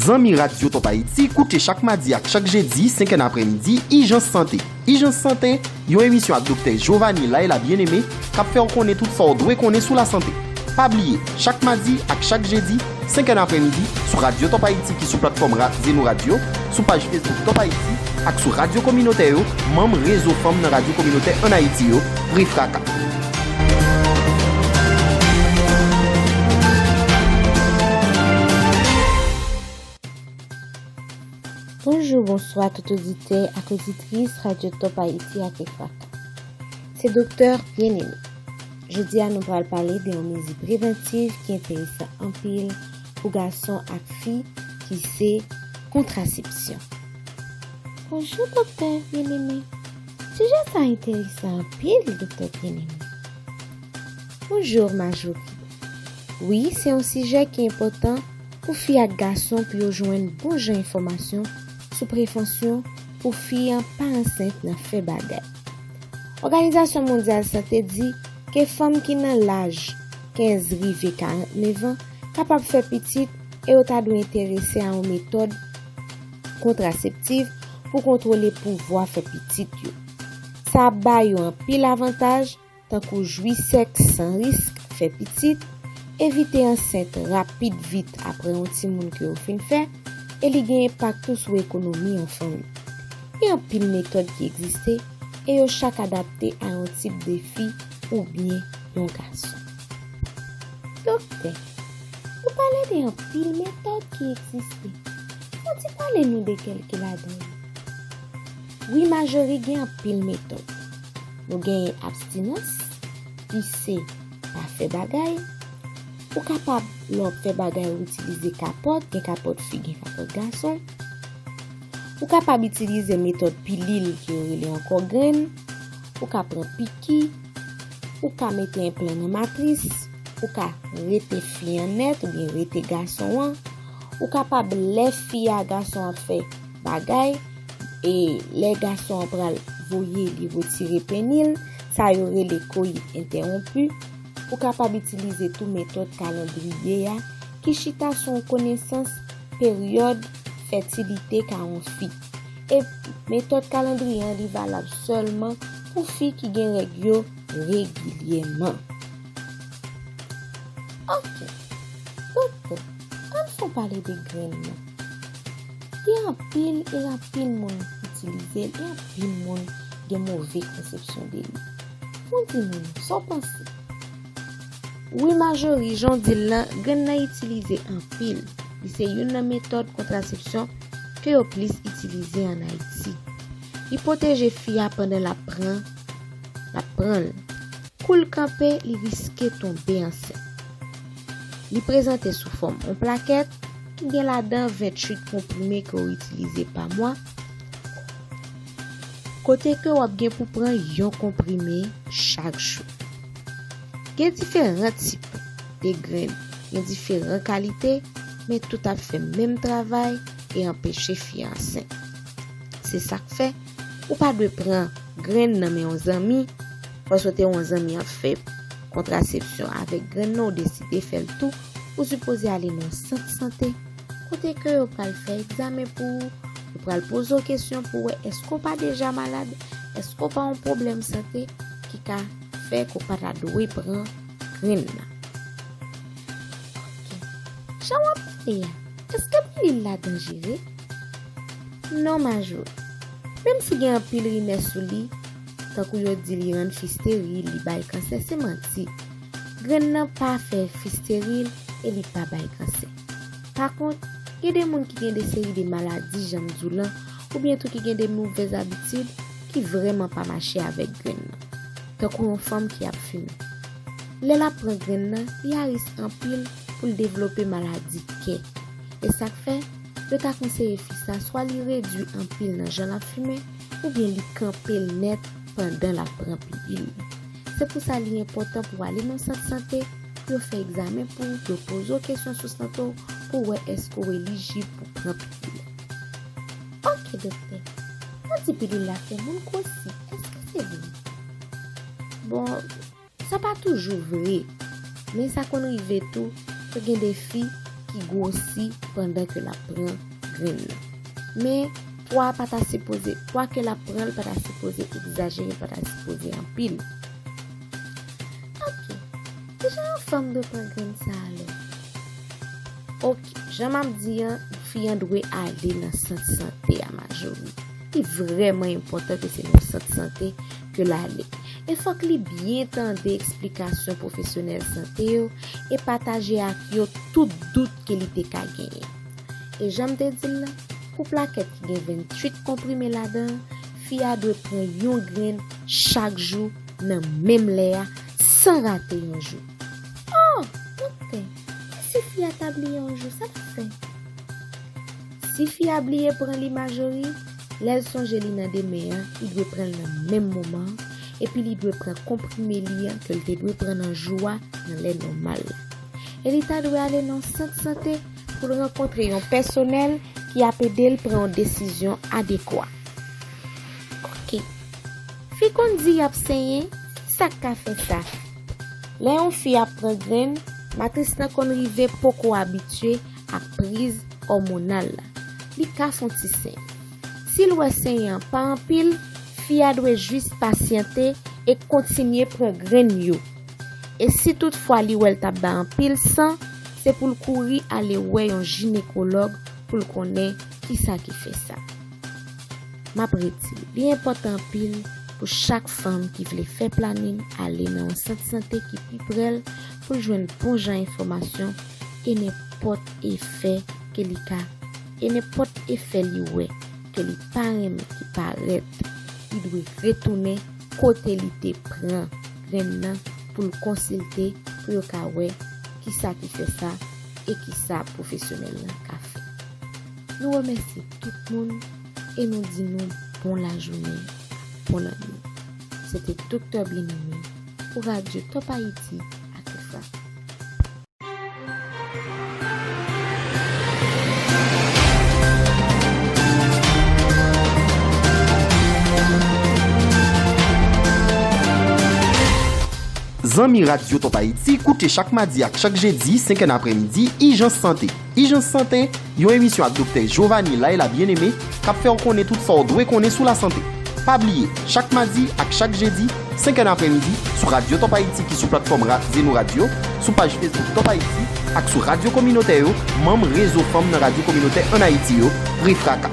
Zanmi Radyo Top Haïti, koute chak madi ak chak jedi 5 èn aprè midi, Ijans Sante. Ijans Sante, yon emisyon ak Doktè Jovanie Laila Bien-Aimé k ap fè w konnen tout sa w dwe konnen sou lasante. Pa bliye, chak madi ak chak jedi, 5 è nan aprèmidi, sou radyo Top Haïti ki sou platfòm ra Zeno Radio, sou paj Facebook Top Haïti ak sou radyo kominotè yo, manm Rezo Fanm nan Radyo Kominotè ann Ayiti yo, REFRAKA. Bonjou bonswa tout oditè ak oditris Radyo Top Ayiti ak EFAK. Se Doktè Bien Aimé. Jodi a nou pral pale de yon mezi prevantiv ki enteresan anpil pou gason ak fi ki se kontrasepsyon. Bonjou Doktè Bien Aimé. Sijè sa enteresan anpil Doktè Bien Aimé. Bonjour Marjorie. Wi se yon sijè ki enpòtan pou fi ak gason pou yo jwenn bon jan enfòmasyon sou prevansyon pou fi an pa ansent nan fè bagay. Òganizasyon Mondyal Sante di ke fanm ki nan laj 15 rive 49 an kapab fè pitit e yo ta dwe enterese a yon metòd kontraseptiv pou kontwole pouvwa fè pitit yo. Sa ap ba yo anpil avantaj tankou jwi sèks san risk, fè pitit, evite ansent rapid vit apre yon timoun ke ou fin fè, e li gen enpak tou sou ekonomi yon fanmi. Gen anpil metòd ki egziste e yo chak adapte a yon tip de fi oubyen yon gason. Doktè, ou pale de anpil metòd ki egziste, ou di pale nou de kèlke ladan yo? Wi Majorie gen anpil metòd, Nou genyen abstinans, ki se pa fè bagay. Ou kapab lè w ap fè bagay ou itilize kapòt, gen kapòt fi, gen kapòt gason. Ou kapab itilize metòd pilil ke yo rele ankò grenn. Ou ka pran piki. Ou ka mete enplan nan matris. Ou ka rete fi an nèt oubyen rete gason an. Ou kapab lè fi a gason an fè. bagay e lè gason an pral voye li retire peni l, sa yo rele koyit entèwonpi, ou kapab itilize tou metòd kalandriye a ki chita sou yon konesans peryòd fètilite ka yon fi. E metòd kalandriye an li valab sèlman pou fi ki gen règ yo regilyèman. Ok, doktè, ann fon pale de grenn nan. Li anpil e anpil moun itilize l e anpil moun gen move konsepsyon de li. Moun ti moun, sa w panse? Wi Majori, jan w di l lan, grenn nan itilize anpil. Li se youn nan metòd kontrasepsyon ke yo plis itilize an Ayiti. Li pwoteje fi a pandan l ap pran l ap pran l. Kou l kanpe, li riske tonbe ansent. Li prezante sou fòm yon plakèt ki gen ladan 28 konprime ke w itilize pa mwa, kote ke w ap gen pou pran yon konprime chak jou. Gen diferan tip de grenn, gen diferan kalite, men tout ap fè menm travay e anpeche fi ansent. Se sak fè. Ou pa dwe pran grenn nan men yon zanmi paske w te wè yon zanmi ap fè kontrasepsyon avèk grenn nan ou deside fè l tou, ou sipoze ale nan yon sant sante kote ke yo pral fè egzamen pou ou, yo pral poze w kesyon pou wè èske w pa deja malad, èske w pa yon pwoblèm sante ki ka fè ke w pa ta dwe pran grenn nan. Ok, jan wap pale a, èske pilil la danjere? Non Majó, menm si gen anpil rimè sou li, tankou yo di li rann fi steril, li bay kansè, se manti. Grenn nan pa fè fi steril e li pa bay kansè. Pa kont, gen de moun ki gen de seri de maladi jan m di w lan oubyen tou ki gen de movèz abitid ki vrèman pa mache avèk grenn nan. Tankou yon fanm ki ap fimen. Lè l ap pran grenn nan, li a risk anpil pou l devlope maladi kè. E sa k fè, Yo ta konseye fi sa swa li redui anpil nan jan l ap fimen oubyen li kanpe l nèt pandan l ap pran pigil li. Se pou sa li enpòtan pou w ale nan sant sante pou yo fè egzamen pou ou, pou yo poze w kesyon sou sante w pou wè èske w elijib pou pran pigil la. Ok doktè, yo di pilil la fè moun gwosi, èske se vre? Bon. Sa pa toujou vre, men sa konn rive tou ke gen de fi ki gwosi pandan ke lap pran grenn nan. Men, pwa pa ta sipoze, pwa ke lap pran pa ta sipoze egzajere, pa ta sipoze anpil. Ok, kijan yon fanm dwe pran grenn sa alò? Ok, jan map di an, fi an dwe ale nan sant sante a majori. Li vreman enpotan ke se nan sant sante ke l ale. E fòk li byen tande eksplikasyon pwofesyonèl sante yo e pataje ak yo tout dout ke li te ka genyen. E jan m te di l lan, pou plakèt ki gen 28 konprime ladan an, fi a dwe pran yon grenn chak jou nan menm lè a san rate yon jou. Oh! Doktè, e si fi a ta bliye yon jou, sa l ap fè? Si fi a bliye pran li Majorie, Lè l sonje li nan demen an, li dwe pran l nan menm moman an, epi li dwe pran konprime li an ke l te dwe pran nan jou a nan lè nòmal la. E li ta dwe ale nan sant sante pou l rankontre yon pèsonèl ki ap ede l pran yon desizyon adekwa. Ok. Fi konn di y ap senyen, ki sa k ka fè sa? Lè yon fi ap pran grenn, matris la konn rive poko abitye ak priz òmonal la, li ka fon ti seny. Si l wè seny an pa anpil, fi a dwe jis pasyante e kontinye pran grenn yo. E si tout fwa li wè l t ap bay anpil san, se pou l kouri ale wè yon jinekològ pou l konnen ki sa ki fè sa. M ap redi, li enpòtan anpil pou chak fanm ki vle fè planin ale nan yon sant sante ki pi pre l pou l jwenn bon jan enfòmasyon e nenpòt efè ke li ka, e nenpòt efè li wè ke li pa renmen ki parèt, li dwe retounen kote li te pran grenn nan pou l konsilte pou yo ka wè kisa ki fè sa e kisa pwofesyonèl lan ka fè. Nou remèsye tout moun e nou di nou bon lajounen, bon lannwit. Se te Doktè Byeneme pou Radio Top Haïti ak Rifa. Zanmi Radio Top Haïti, koute chak madi ak chak jedi 5 è napremidi Ijans Sante. Ijans Sante, Yon emisyon ak Doktè Jovanie Laila Bien-Aimé k ap fè w konnen tout sa w dwe konnen sou lasante. Pa bliye, chak madi ak chak jedi, 5 è nan aprèmidi, sou radyo Top Haïti ki sou platfòm ra Zeno Radio, sou paj Facebook Top Haïti ak sou radyo kominotè yo, manm Rezo Fanm nan Radyo Kominotè ann Ayiti yo, REFRAKA.